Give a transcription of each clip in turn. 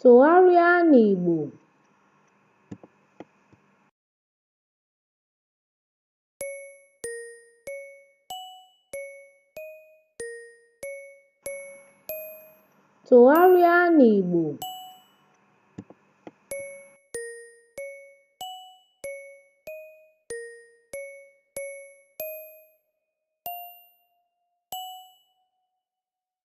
Tụgharịa n'Igbo. Tụgharịa n'Igbo.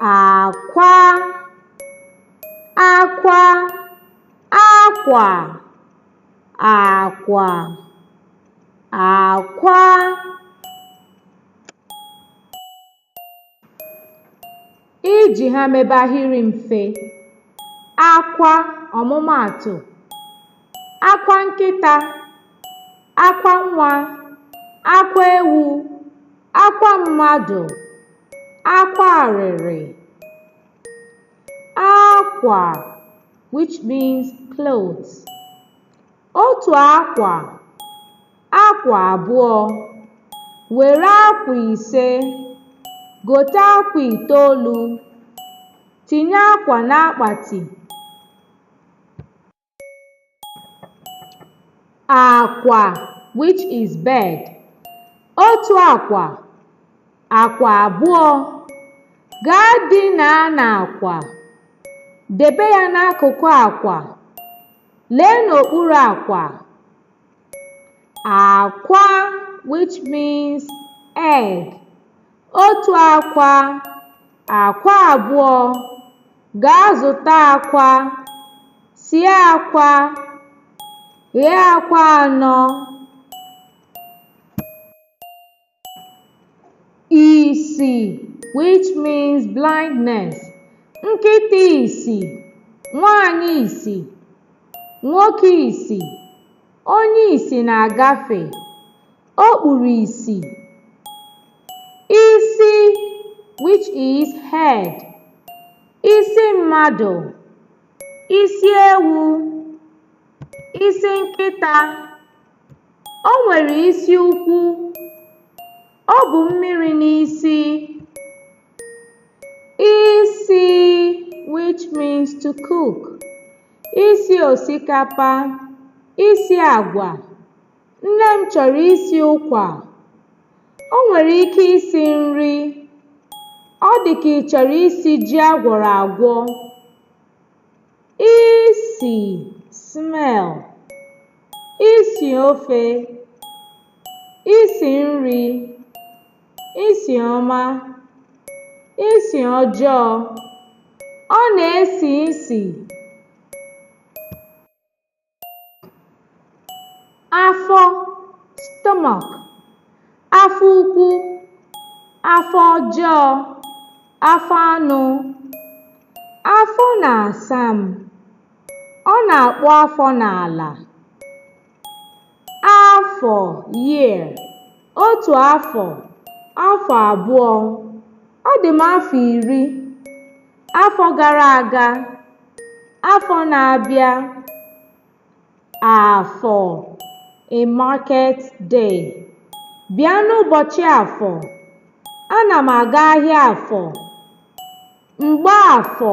akwa akwa akwa akwa akwa iji ha mebe ahịrị mfe akwa ọmụmaatụ akwa nkịta akwa nwa akwa ewu akwa mmadụ akwa arịrị akwa which means cloth otu akwa akwa abụọ were akwa ise gote akwa itoolu tinye akwa n'akpati akwa which is bed otu akwa akwa abụọ gaa dinaa n'akwa debe ya n'akụkụ akwa lee n'okpuru akwa Akwa which means egg. Otu akwa, akwa abụọ. Gaa zụta akwa, sie akwa, ghee akwa anọ. isi which means blindness nkịta isi nwanyị isi nwoke isi onye isi na-agafe o kpuru isi isi which is head isi mmadụ isi ewu isi nkịta O nwere isi ukwu. O bu mmiri n'isi. Isi which means to cook. Isi osikapa. Isi agwa. Nne m chọrọ isi ụkwa. O nwere ike isi nri. Ọ dị ka ị chọrọ isi ji agwọrọ agwọ. isi smell isi ofe isi nri isi ọma isi ọjọọ ọ na-esi isi afọ stomach afọ ukwu afọ ọjọọ afọ anụ afọ na-asa m ọ na-akpụ afọ n'ala afọ year otu afọ afọ abụọ ọ dị m afọ iri Afọ gara aga, afọ na-abịa, afọ, a market day. Bịa n'ụbọchị afọ, ana m aga ahịa afọ. Mgbafọ.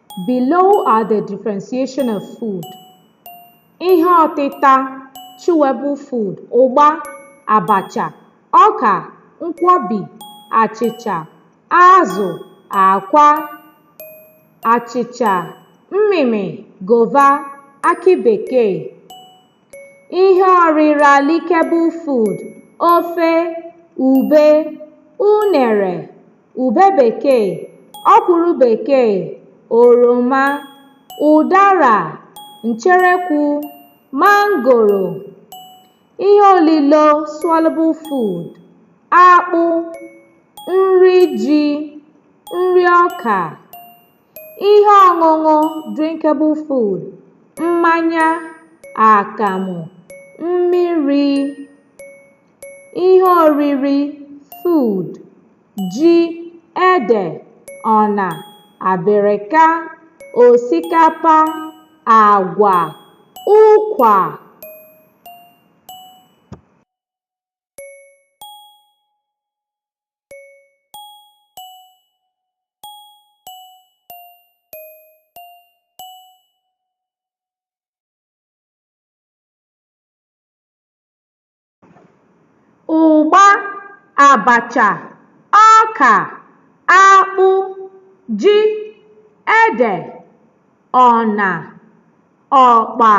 Below are the differentiation of food. Ihe ọtịta, chewable food, ụgba, abacha, ọka, nkwobi, achịcha, azụ, akwa, achịcha, mmịmị, gova, akị bekee. Ihe ọrịra, lickable food, ofe, ube, unere, ube bekee ọkwụrụ bekee oroma ụdara ncherekwu mangoro ihe olilo swallowable food akpụ nri ji nri ọka ihe ọṅụṅụ drinkable food mmanya akamụ mmiri ihe oriri food ji ede ọna abịrịka osikapa agwa ụkwa ụgba, abacha, ọka, akpụ, ji, ede, ọna, ọkpa.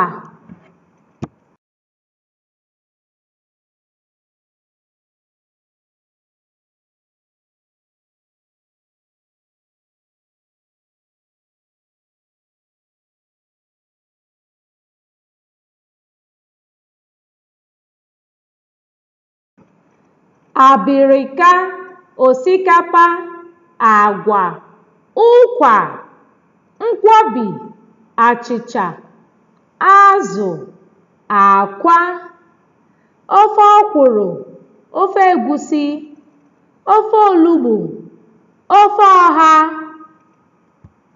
abịrịka osikapa agwa ụkwà nkwọbi achịcha azụ akwa ofe ọkwụrụ ofe egwusi ofe olugbu ofe ọha